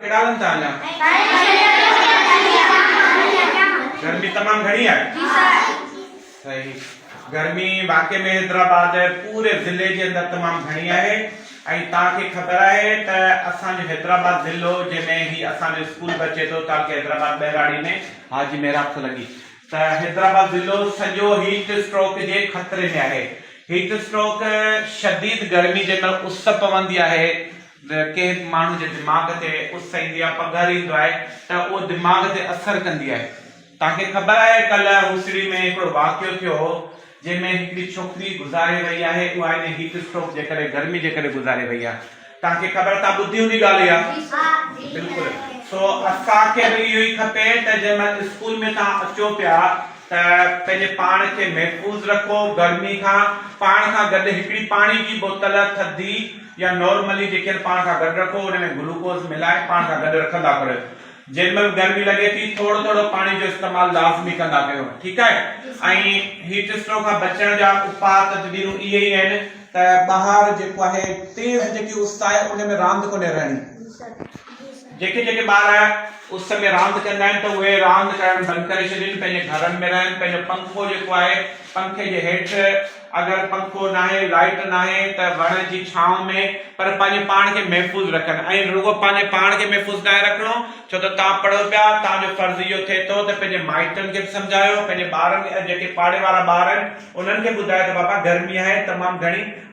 ڪيڏانهن ٿا اڃا؟ گرمي تمام گهڻي آهي؟ صحيح گرمي واقعي ۾ حيدرآباد پوري ضلعي جي اندر تمام گهڻي آهي ۽ توهان کي خبر آهي ته اسان جو حيدرآباد ضلعو جنهن ۾ هي اسان جو اسڪول به اچي ٿو تعلقي حيدرآباد ٻهراڙي ۾ حاجي محراب سلنگي ته حيدرآباد ضلعو سڄو هيٽ اسٽروڪ جي خطري ۾ آهي، هيٽ اسٽروڪ شديد گرمي جنهن مهل اس پوندي آهي ڪنهن به ماڻهو جي دماغ تي اس ايندي آهي پگهر ايندو آهي ته اهو دماغ تي اثر ڪندي آهي توهان کي خبر آهي ڪلهه هوسڙي ۾ هڪڙو واقعو ٿيو هو جنهن ۾ هڪڙي ڇوڪري گذاري رهي آهي اها انهي هيٽ اسٽروڪ جي ڪري گرمي جي ڪري گذاري رهي آهي توهان کي خبر توهان ٻڌي هوندي ڳالهه اها بلڪل سو اسان کي به اهو ئي کپي ته جنهن مهل اسڪول ۾ توهان اچو پيا ته پنهنجي پاڻ کي محفوظ رکو گرمي کان پاڻ کان گڏ هڪڙي پاڻي جي بوتل ٿڌي يا نارملي جيڪي آهن پاڻ کان گڏ رکو ان ۾ گلوڪوز ملائي پاڻ کان گڏ رکندا ڪريو جن مھل گرمي لڳي ٿي ٿورو ٿورو پاڻي جو استعمال لازمي ڪندا ڪيو ٺيڪ آھي ۽ ھيٽ اسٽروڪ کان بچڻ جا اپاء تدبيرون اھي ئي آھن ته ٻاھر جيڪو آھي تيز جيڪي اس آھي ان ۾ راند ڪونھي رھڻي جيڪي جيڪي ٻار اس ۾ راند ڪندا آھن ته اھي راند ڪرڻ بند ڪري ڇڏين پنھنجي گھرن ۾ رھن پنھنجو پنکو جيڪو آھي پنکي جي ھيٺ اگر پنکو ناهي، لائيٽ ناهي ته وڻ جي ڇانو ۾ پر پنهنجي پاڻ کي محفوظ رکن ۽ رڳو پنهنجي پاڻ کي محفوظ ناهي رکڻو ڇو ته توهان پڙهو پيا توهان جو فرض اهو ٿئي ٿو ته پنهنجي مائٽن کي به سمجهايو پنهنجي ٻارن کي ۽ جيڪي پاڙي وارا ٻار آهن انهن کي ٻڌايو ته بابا گرمي آهي تمام گهڻي